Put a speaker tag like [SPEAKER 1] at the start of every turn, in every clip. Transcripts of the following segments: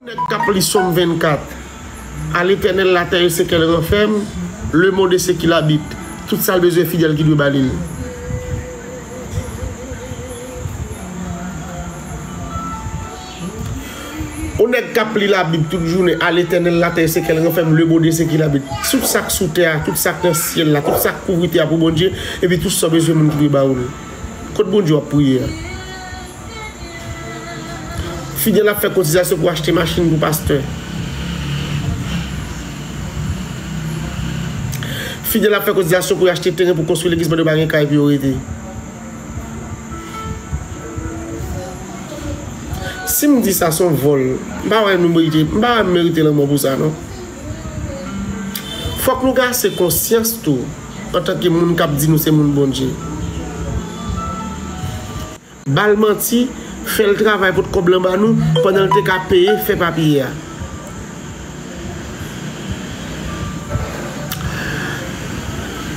[SPEAKER 1] Nèg kap li som 24 A letènèl latè e sekel ranfèm Le mond e sekil abit Tout sal bezwen fidèl ki dwe ba li l. O nèg kap li la bib tout jounen A letènèl latè e sekel ranfèm Le mond e sekil abit Tout sak sou tè a tout sak nan syèl la tout sak kouvri tè a pou Bondye epi tout sa w bezwen moun ki dwe ba ou l Kot Bondye wap priye a. Fidel ap fè kotizasyon pou achte machin pou pastè. Fidel ap fè kotizasyon pou achte teren pou konstwi legliz pandan yo pa gen kay pou yo rete. Si m di sa s on vòl. M pa wè m merite lanmò pou sa non. Fòk nou gen ase konsyans tou antanke moun k ap di nou se moun Bondye. Bal manti, fèl travay pot kòb lan ba nou pandanl te ka peye fè papye a.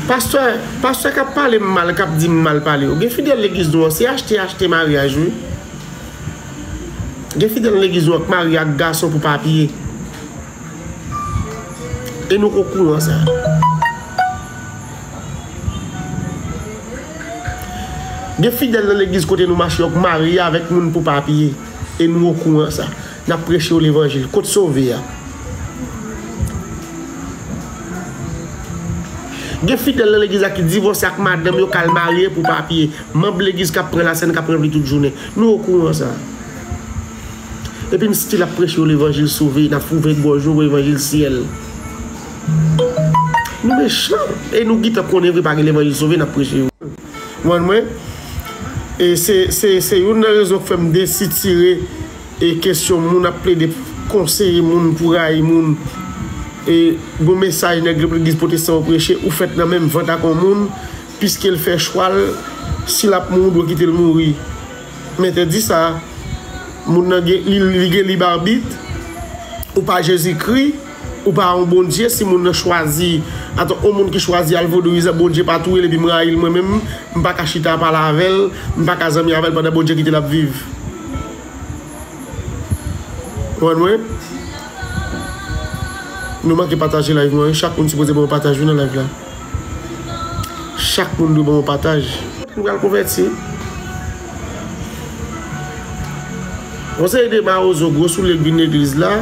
[SPEAKER 1] Pastè, pastè kap palem mal kap dim mal pale yo gen fidèl legliz nou an se achte achte maryaj wi gen fidèl nan legliz nou an k marye ak gason pou papye e nou okouran sa. Gen fidèl nan legliz kote nou mache yo k marye avèk moun pou papye e nou okouran sa. Nap preche yo levanjil. Kot sove a? Gen fidèl nan legliz la ki divòse ak madanm yo kal marye pou papye. Manb legliz kap pran lasèn kap ranpli tout jounen. Nou okouran sa. Epi n stil ap preche yo levanjil sove, nap fouve gòj yo pou levanjil syèl. Nou mechan e nou gitan konnen vre pa gen levanjil sove nap preche yo. Kpwann mwen? E se se youn nan rezon k fèm desitire e kesyon moun ap plede konseye moun pou rayi moun e gon mesaj nèg legliz potestan yo preche ou fèt nan menm vant ak on moun piskel fè chwal si lap mouri ou dwe kitel mouri m entèdi sa moun nan gen li gen lib arbit ou pa jezikri. Ou pa yon Bondye si moun nan chwazi atò yon moun ki chwazi al vodouizan Bondye pa touyel epi m rayil mwen menm m paka chita pale avèl m paka zanmi avèl pandan Bondye kitel ap viv konprann mwen Nou manke pataje live mwen wi chak moun sipoze banm yon pataj wi nan live la. Chak moun dwe ban yon pataj. M pral konvèti. Yon seri de mawozo gwo soulye k vin legliz la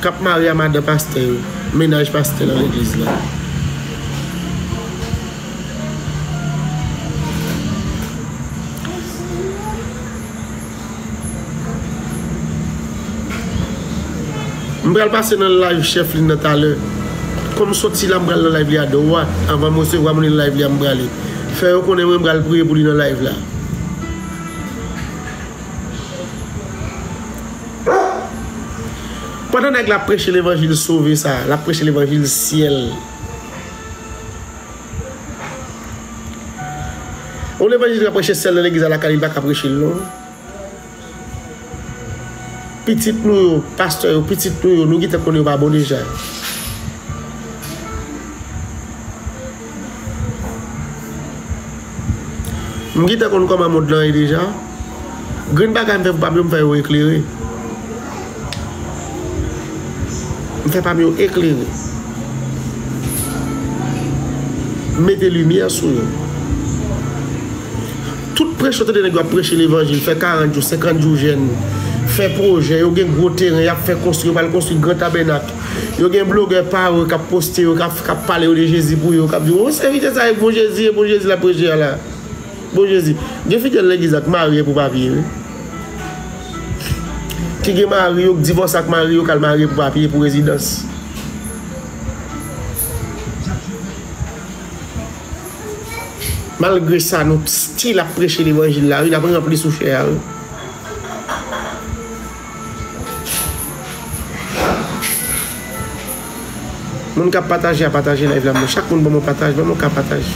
[SPEAKER 1] kap mare a madan pastè yo, mennaj pastè nan legliz la. M pral pase nan live chèf li nan talè kòm soti la m pral nan live li a dwat avanm resevwa moun li nan live li a m prale fè yo konnen mwen pral priye pou li nan live la. Pandan nèg la ap preche levanjil sove sa, l ap preche levanjil syèl. Yon levanjil ki ka preche sèl nan legliz alakay li pa ka preche l non. Pitit nou yo, pastè yo, pitit nou yo, nou gentan konnen yo pa bon deja. M gentan konn kòman mond lan ye deja. Grenn bagay m fè pou pa m yo m fè yo eklere. M fè pa m yo eklere. M mete limyè sou yo. Tout prèch ou tande nèg yo ap prèche levanjil, fè 40 jou, 50 jou jèn, fè pwojè, yo gen gwo teren y ap fè konstwi, yo pral konstwi gran tabènak, yo gen blogè pa yo k ap poste yo, k ap pale yo de Jezi pou yo, k ap di w, o, sèvitè sa e bon Jezi, e bon Jezi l ap preche a la. Bon jezi, gen fidèl legliz la k marye pou papye wi. Ki gen mari yo k divòse ak mari yo k al marye pou papye, pou rezidans. Malgre sa nou still ap preche levanjil la wi, n ap ranpli sou chè a wi. Moun kap pataje a pataje live la mwen chak moun banm yon pataj banm yon ka pataj.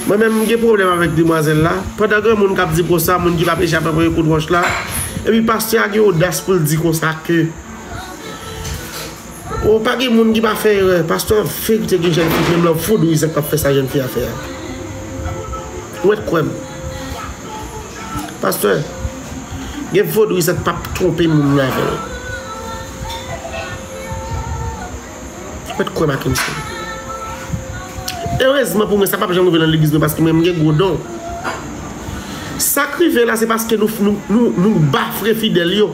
[SPEAKER 1] Mwen menm m gen pwoblèm avèk demwazèl la, pandan gen moun kap di konsa, moun ki pap echape premye kout wòch la, epi pastè a gen odas poul di konsa ke oh pa gen moun ki pa fè erè, pastè an ap fè koute gen jèn fi menm lè ou foud ou Isaac pap fè sa jèn fi a fè a ou mèt kwè m pastè gen foud ou Isaac pap twonpe moun nan avèl. Ou pèt kwè Mackenson. Erezman pou mwen sa pap janm rive nan legliz mwen paske mwen mgen gwo don. Sak rive la se paske nou bafre fidèl yo.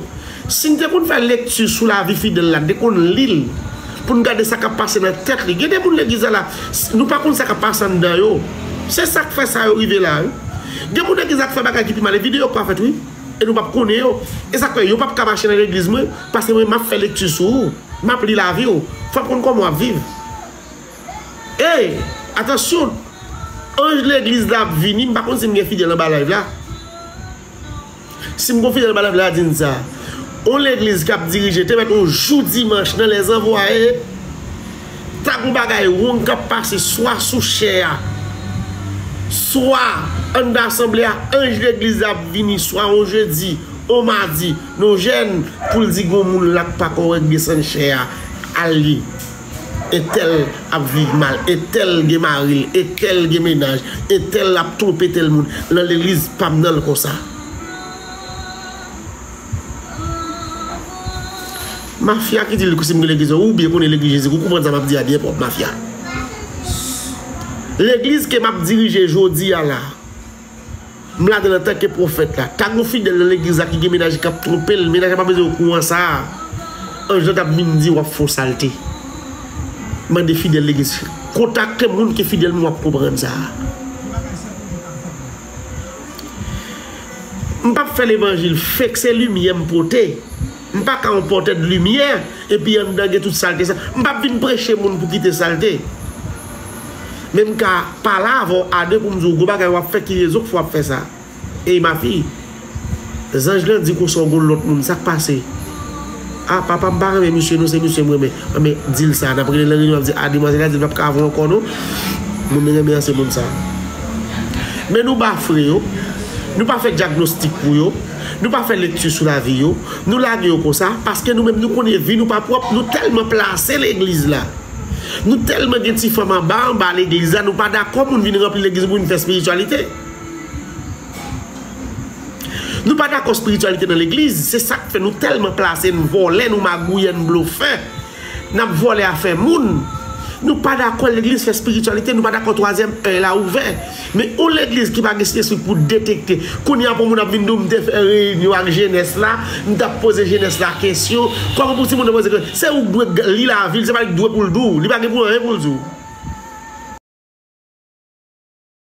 [SPEAKER 1] Sin te konn fè lekti sou lavi fidèl la, te konn lil poun gade sa kap pase nan tèt li. Gen de moun legliz la la nou pa konn sa kap pase anndan yo. Se sak fè sa yo rive la wi. Gen moun legliz la k fè bagay ki pi mal e videyo pa fèt wi. e nou pap konnen yo e sak fè yo pap ka mache nan legliz mwen paske mwen map fè lekti sou ou map li lavi ou fòm konn kòman wap viv ey atansyon anj legliz la ap vini mpa konn sim gen fidèl anba live la sim gon fidèl anba live la dim sa on legliz kap dirije te mèt on jou dimanch nan lè zanvwa ee. Ta gon bagay rong kap pase swa sou chè a, swa anndan asanble a, anj legliz la ap vini swa yon jedi, yon madi, yon jèn pou l di gon moun la k pa kòrèk desann chè a al li. Entèl ap viv mal, entèl gen mari l, entèl gen menaj, entèl ap twonpe tèl moun, nan legliz pa m nan l konsa. Mafya ki di sim gen legliz ou byen konnen legliz jezi ou konprann sa map di a byen pwòp mafya legliz ke map dirije jodi a la m ladann antanke pwofèt la ta gen fidèl nan legliz la ki gen mennaj li kap twonpe l mennaj la pa bezwen okouran sa anj lan tap vin di wap fon salte mande fidèl legliz kontakte moun ki fidèl m wap konprann sa. M pap fè levanjil fake se limyè m pote m paka yon pòtè de limyè epi anndan gen tout salte sa m pap vin preche moun pou kite salte men m ka pale avèw a de pou m diw gwo bagay wap fè ki rezon k fè wap fè sa ey ma fille. Zanj lan di konsa w gon lòt moun sak pase? Ah papa m pa renmen misye non se misye m renmen Anben di l sa nap rele nan reyinyon ap di ah demwazèl la di l pap ka avè w ankò non Moun li renmen an se moun sa Men nou bafre yo Nou pa fè dyagnostik pou yo Nou pa fè lekti sou lavi yo Nou lage yo konsa paske nou menm nou konnen vi nou pa pwòp nou tèlman plase legliz la Nou tèlman gen ti fanm anba anba legliz la nou pa dakò moun vin ranpli legliz pou vin fè espirityalite. Nou pa dakò spirityalite nan legliz, se sa k fè nou tèlman plase, n vòlè, nou magouyè, n blofè, n ap vòlè afè moun. Nou pa dakò legliz fè spirityalite, nou pa dakò twazyèm èy la ouvè. Men yon legliz ki pa gen syespri pou detekte, kounye a pou yon moun ap vin di w m te fè reyinyon ak jenès la, m t ap poze jenès la kesyon, kòman pou timoun nan poze ke, se ou k dwe k li lavi l, se pa li k dwe pou l di w, li pa gen pou anyen pou l di w.